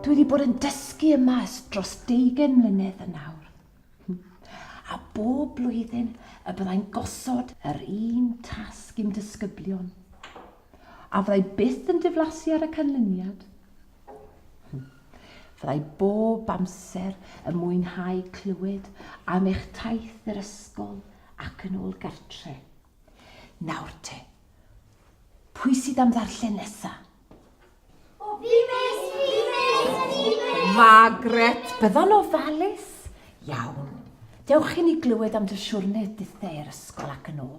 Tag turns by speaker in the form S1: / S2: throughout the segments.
S1: Dwi wedi bod yn dysgu yma ers dros deugen mlynedd yn nawr. A bob blwyddyn y byddai'n gosod yr un tasg i'm disgyblion. A fyddai byth yn diflasu ar y canlyniad. Fyddai bob amser yn mwynhau clywed am eich taith i'r ysgol ac yn ôl gartre. Nawr te, pwy sydd am ddarllen nesa? Margaret, byddwn o falus. Iawn. Dewch i ni glywed am dy siwrne ditheu'r ysgol ac yn ôl.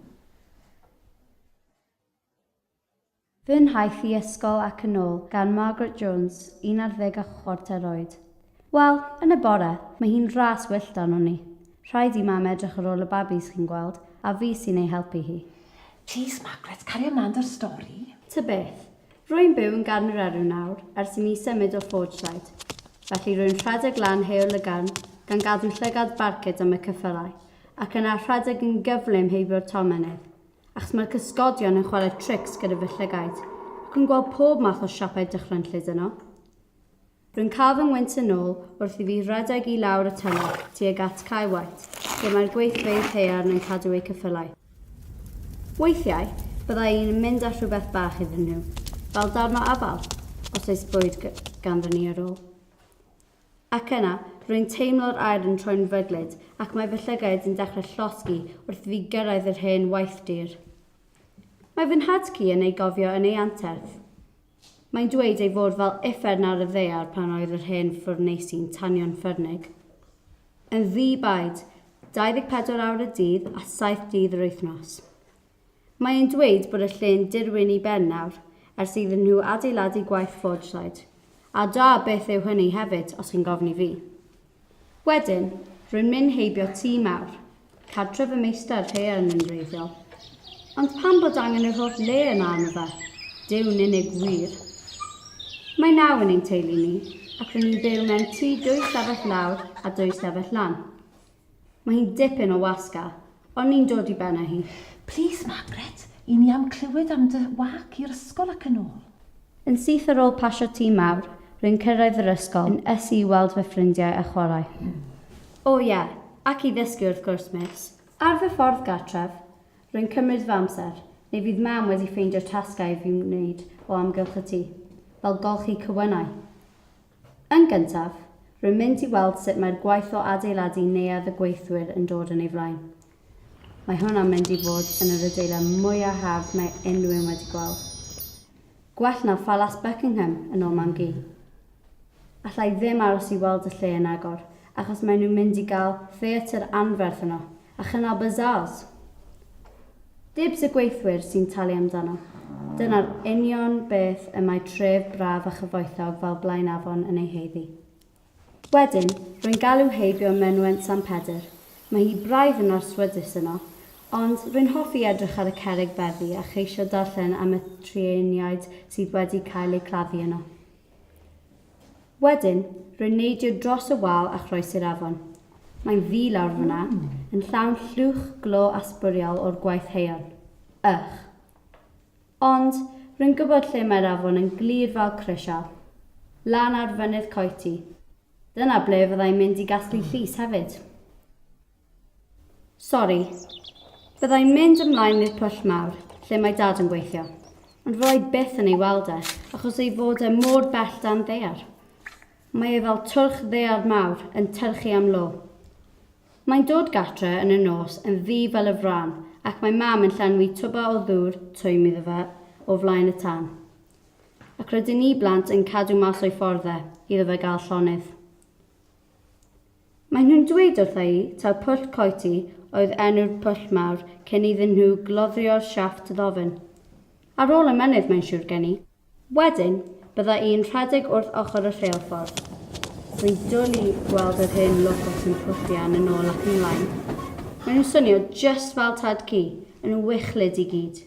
S1: Fy nhaith i ysgol ac yn ôl gan Margaret Jones, un ar ddeg a chwarter oed. Wel, yn y bore, mae hi'n ras wyllt arno ni. Rhaid i mam edrych ar ôl y babis, chi'n gweld, a fi sy'n ei helpu hi. Plîs, Margaret, cario mlaen 'da'r stori. Ta beth. Rwy'n byw yn Garneraru nawr ers i mi symud o Forgeside, felly rwy'n rhedeg lan Heol y Garn gan gadw llygad barcud am y cyffyrau, ac yna rhedeg yn gyflym heibio'r tolmynydd, achos mae'r cysgodion yn chwarae trics gyda fy llygaid, ac yn gweld pob math o siapau dychrynllyd yno. Rwy'n cael fy ngwynt yn ôl wrth i fi redeg i lawr y tymor tuag at Cae White, lle mae'r gweithfeydd haearn yn cadw eu ceffylau. Weithiau, byddai un yn mynd â rhywbeth bach iddyn nhw, fel darn o afal, os oes bwyd ganddo ni ar ôl. Ac yna, rwy'n teimlo'r aer yn troi'n fryglyd ac mae fy llygaid yn dechrau llosgi wrth i fi gyrraedd yr hen waith dur. Mae fy nhad-cu yn ei gofio yn ei anterth. Mae'n dweud ei fod fel uffern ar y ddaear pan oedd yr hen ffwrneisi'n tanio'n ffyrnig. Yn ddi-baid, 24 awr y dydd a 7 dydd yr wythnos. Mae e'n dweud bod y lle'n dirwyn i ben nawr, ers iddyn nhw adeiladu gwaith ffordraid. A da beth yw hynny hefyd, os chi'n gofyn i fi. Wedyn, rwy'n mynd heibio tŷ mawr, cartref y meistr haearn yn wreiddiol. Ond pam bod angen yr holl le yma am y fa? Dyw'n unig wir. Mae naw yn ein teulu ni, ac rydyn ni'n byw mewn tŷ dwy stafell lawr a dwy stafell lan. Mae hi'n dipyn o wasg a, O'n ni'n dod i ben â hi. Plîs, Margaret, 'yn ni am clywed am dy wâc i'r ysgol ac yn ôl. Yn syth ar ôl pasio tîm mawr, rwy'n cyrraedd yr ysgol, yn ysu i weld fy ffrindiau a chwarae. O ie, ac i ddysgu wrth gwrs, Miss. Ar fy ffordd gartref, rwy'n cymryd fy amser, neu fydd Mam wedi ffeindio'r tasgau i fi wneud o amgylch y tŷ, fel golchi cywynnau. Yn gyntaf, rwy'n mynd i weld sut mae'r gwaith o adeiladu Neuadd y Gweithwyr yn dod yn ei flaen. Mae hwn am mynd i fod yn yr adeilad mwyaf hardd mae unrhyw un wedi gweld. Gwell na Phalas Buckingham, yn ôl Mam-gu. Alla i ddim aros i weld y lle yn agor, Achos maen nhw'n mynd i gael theatr anferth yno, a chynnal bazaars! Dibs y gweithwyr sy'n talu amdano. Dyna'r union beth y mae tref braf a chyfoethog fel Blaenafon yn ei haeddu. Wedyn, rwy'n galw heibio Mynwent San Pedr. Mae hi braidd yn arswydus yno, ond rwy'n hoffi edrych ar y cerrig beddi a cheisio darllen am y trueiniaid sydd wedi cael eu claddu yno. Wedyn, rwy'n neidio dros y wal a chroesi'r afon. Mae'n ddu lawr fan'na, yn llawn llwch glo a sbwriel o'r gwaith haearn. Ych! Ond, rwy'n gwybod lle mae'r afon yn glir fel crisial. Lan ar Fynydd Coety. Dyna ble fydda i'n mynd i gasglu llys hefyd. Sori. Bydda i'n mynd ymlaen i'r pwll mawr, lle mae Dad yn gweithio, ond fo i byth yn ei weld e, achos ei fod e mor bell dan ddaear. Mae e fel twrch ddaear mawr yn tyrchu am lo. Mae'n dod gartre yn y nos yn ddu fel y frân, ac mae Mam yn llenwi twba o ddŵr twym iddo fe o flaen y tân. Ac rydyn ni blant yn cadw mas o'i ffordd e, iddo fe gael llonydd. Maen nhw'n dweud wrtha i taw Pwll Coety oedd enw'r pwll mawr cyn iddyn nhw gloddio siafft ddofn. Ar ôl y mynydd mae'n siŵr gen i. Wedyn, bydda i'n rhedeg wrth ochr y rheilffordd. Rwy'n dwli i weld yr hen locos yn pwllian yn ôl ac ymlaen. Maen nhw'n swnio jyst fel tad ci, yn wychlyd i gyd.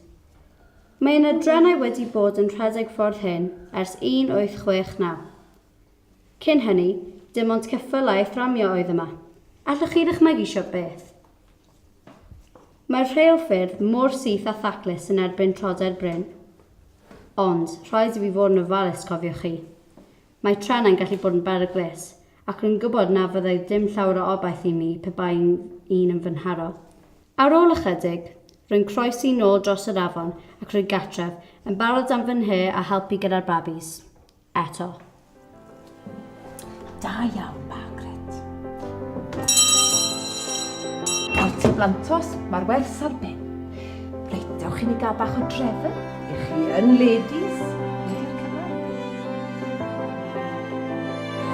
S1: Mae yna drenau wedi bod yn rhedeg ffordd hyn ers 1869. Cyn hynny, dim ond ceffylau thramio oedd yma. Allwch chi ddychmygu shwt beth? Mae'r rheilffyrdd mor syth a thaclus yn erbyn trodair brin. Ond, rhaid i fi fod yn ofalus, cofiwch chi. Mae trenau'n gallu bod yn beryglus, ac rwy'n gwybod na fyddai dim llawer o obaith i mi pe bai un yn fy nharo. Ar ôl ychydig, rwy'n croesi nôl dros yr afon ac rwy gartref, yn barod am fy nhŷ a helpu gyda'r babis. eto. Da iawn, Margaret. Aunty Blantos, mae'r wers ar ben. Reit, dewch i ni gael bach o drefn i chi yn ladies.